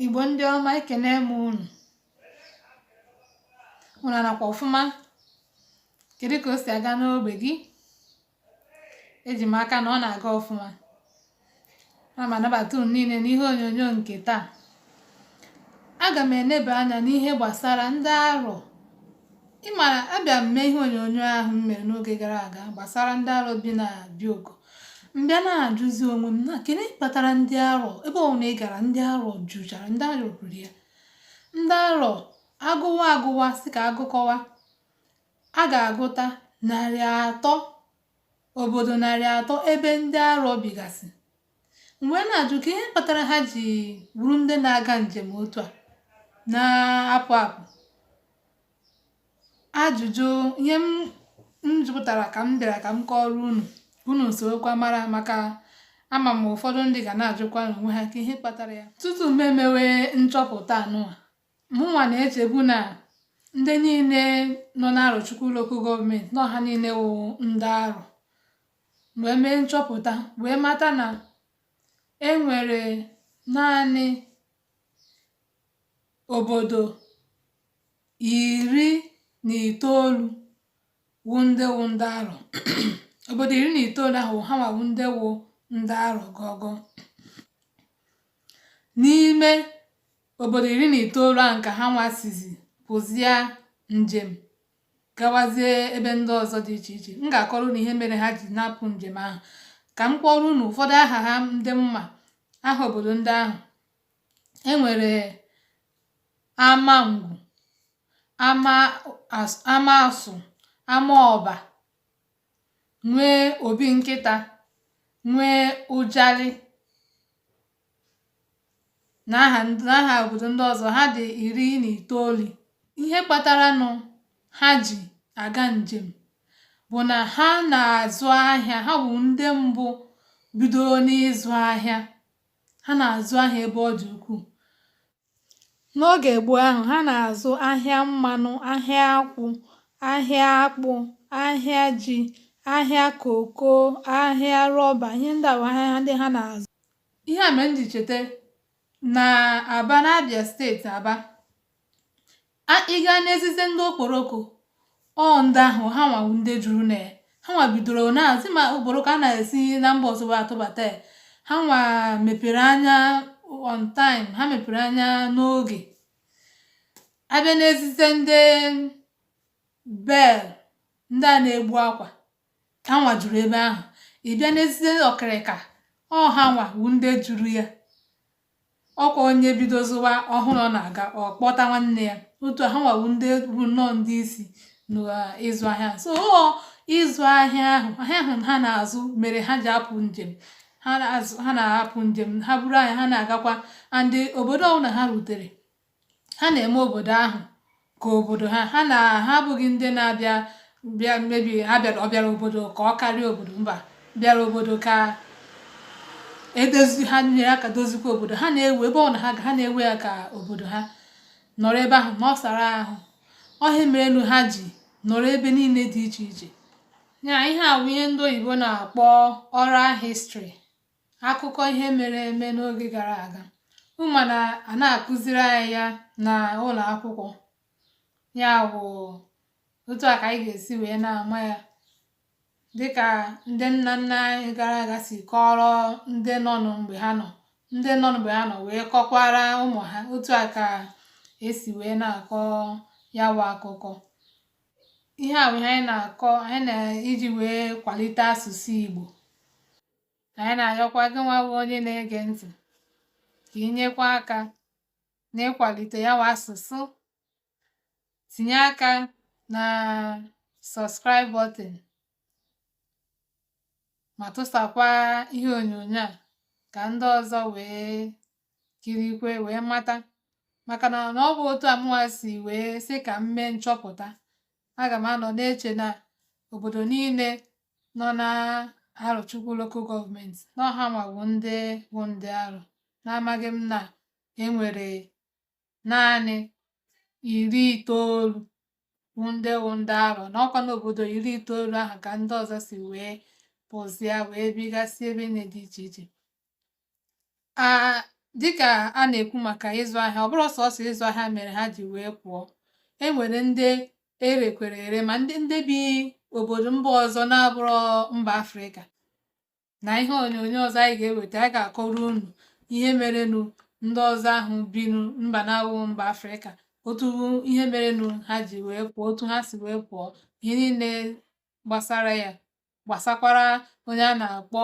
igbo ndị ọma ekene m unu unu anọkwa ọfụma kedu ka o si aga n'ogbe gị eji m aka na ọ na-aga ọfụma ana m anabata unu niile n'ihe onyonyo nke taa aga m eneba anya n'ihe gbasara ndị arọ Ị mara abịa m mee ihe onyonyo ahụ m mere n'oge gara aga gbasara ndị arọ bi na Bioko m bịa na-ajụzi onwe m na kedu kpatara ndị arọ ebe ọ wụna ị gara ndị arọ juchara ndị arọ juru ya ndị arọ agụwa agụwa sị ka a gụkọwa a ga-agụta narị atọ obodo narị atọ ebe ndị arọ bigasị m wee na-ajụ ka ihe kpatara ha ji bụrụ ndị na-aga njem otu a na-apụ apụ ajụjụ ihe m jụtara ka m bịara ka m kọọrọ unu unu sorokwa mara maka ama m ụfọdụ ndị ga na-ajụkwa n'onwe ha ka ihe kpatara ya tutu m emewe nchọpụta anụwa mụnwa na-echebu na ndị niile nọ n'arọchukwu lokal gọọmenti na ha niile wụ ndị arọ wee mee nchọpụta wee mata na e nwere naanị obodo iri na itoolu wụ ndị wụ ndị arọ obodo iri na itoolu ahụ ha nwa wụ ndị wụ ndị arọ gọgọ n'ime obodo iri na itoolu ahụ ka ha nwa sizi pụzia njem gawazie ebe ndị ọzọ dị iche iche m ga-akọrọ unu ihe mere ha ji na-apụ njem ahụ ka m kpọọrọ unu ụfọdụ aha ha ndị m ma aha obodo ndị ahụ e nwere amangwu amasụ amaọba nwee obinkịta nwee ụjalị n'aha n'aha obodo ndị ọzọ ha dị iri na itoolu ihe kpataranụ ha ji aga njem bụ na ha na-azụ ahịa ha wụ ndị mbụ bidoro n'ịzụ ahịa ha na-azụ ahịa ebe ọ dị ukwuu N'oge gboo ahụ, ha na-azụ ahịa mmanụ, ahịa akwụ, ahịa akpụ, ahịa ji, ahịa koko, ahịa rọba, ihe ndị a wụ ahịa ndị ha na-azụ. Ihe a mere m ji cheta na Aba n'Abia steeti Aba a ị gaa n'ezize ndị okporoko ọ ndị ahụ ha nwa wụ ndị juru na ya ha nwa bidoro na-azụ ma okporoko a na-esi na mba ọzọ wee atụbata ya ha nwa mepere anya on time ha mepere anya n'oge a bịa n'ezize ndị bale ndị a na-egbu akwa ha nwa juru ebe ahụ ị bịa n'ezize okirika ọ ha nwa wụ ndị juru ya ọkwa onye bido zụwa ọ hụ na ọ na-aga ọ kpọta nwanne ya otu ahụ ha wụ ndị bụ nnọọ ndị isi n'ịzụ ahịa so ọ ịzụ ahịa ahụ ahịa ahụ ha na-azụ mere ha ji apụ njem ha na-apụ njem ha buru ahịa ha na-agakwa and obodo ọbụla ha rutere ha na-eme obodo ahụ ka obodo ha ha na ha abụghị ndị na-abịa bịa mebi ha bịara ọ bịara obodo ka ọ karịa obodo mba bịara obodo ka edozi ha nyere aka dozikwa obodo ha na-ewe ebe ọ na ha ha na-ewe ya ka obodo ha nọrọ ebe ahụ ma ọ sara ahụ ọ ihe merenụ ha ji nọrọ ebe niile dị iche iche ya ihe a bụ ihe ndị oyibo na-akpọ oral history akụkọ ihe mere eme n'oge gara aga ị ma na a na-akụziri anyị ya na ụlọ akwụkwọ ya bụ otu a ka anyị ga-esi wee na-ama ya dịka ndị nna nna anyị gara aga si kọọrọ ndị nọ mgbe ha nọ ndị nọ mgbe ha nọ wee kọkwara ụmụ ha otu a ka esi wee na-akọ ya bụ akụkọ ihe a bụ ihe anyị na-akọ anyị na iji wee kwalite asụsụ Igbo ka anyị na-ayọkwa gị nwa bụ onye na-ege ntị ka i nyekwa aka n'ịkwalite ya nwa asụsụ tinye aka na subscribe button ma tụsakwa ihe onyonyo a ka ndị ọzọ wee kirikwe wee mata maka na ọ bụ otu a mụnwa si wee sị ka m mee nchọpụta aga m anọ na-eche na obodo niile nọ na arọchukwu lokal gọọmenti na ọ hanwa bụ ndị bụ ndị arọ n'amaghị m na enwere naanị iri itoolu bụ ndị wụ ndị arọ na ọkwa n'obodo iri itoolu ahụ ka ndị ọzọ si wee pụzịa wee bigasị ebe niile dị iche iche a dịka a na-ekwu maka ịzụ ahịa ọ bụrọ sọsọ ịzụ ahịa mere ha ji wee pụọ e nwere ndị erekwere ere ma ndị ndị bi obodo mba ọzọ na-abụrọ mba afrịka na ihe onyonyo ọzọ anyị ga-eweta anyị ga-akọrọ unu ihe merenụ ndị ọzọ ahụ binu mba na-awụ mba afrịka otu ihe merenụ ha ji wee pụọ otu ha si wee pụọ ihe niile gbasara ya gbasakwara onye a na-akpọ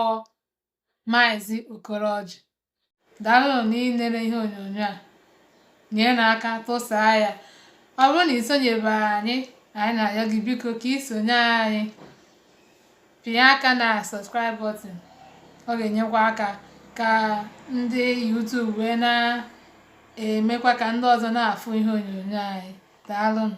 Maazị Okoroji. Daalụnụ n'ilere ihe onyonyo a. Nyere aka tụsaa ya. Ọ bụrụ na i sonyebe anyị, anyị na-ayọ gị biko ka i sonye anyị. Pịa aka na subscribe button. Ọ ga-enyekwa aka ka ndị YouTube wee na-emekwa ka ndị ọzọ na-afụ ihe onyonyo anyị. Daalụnụ.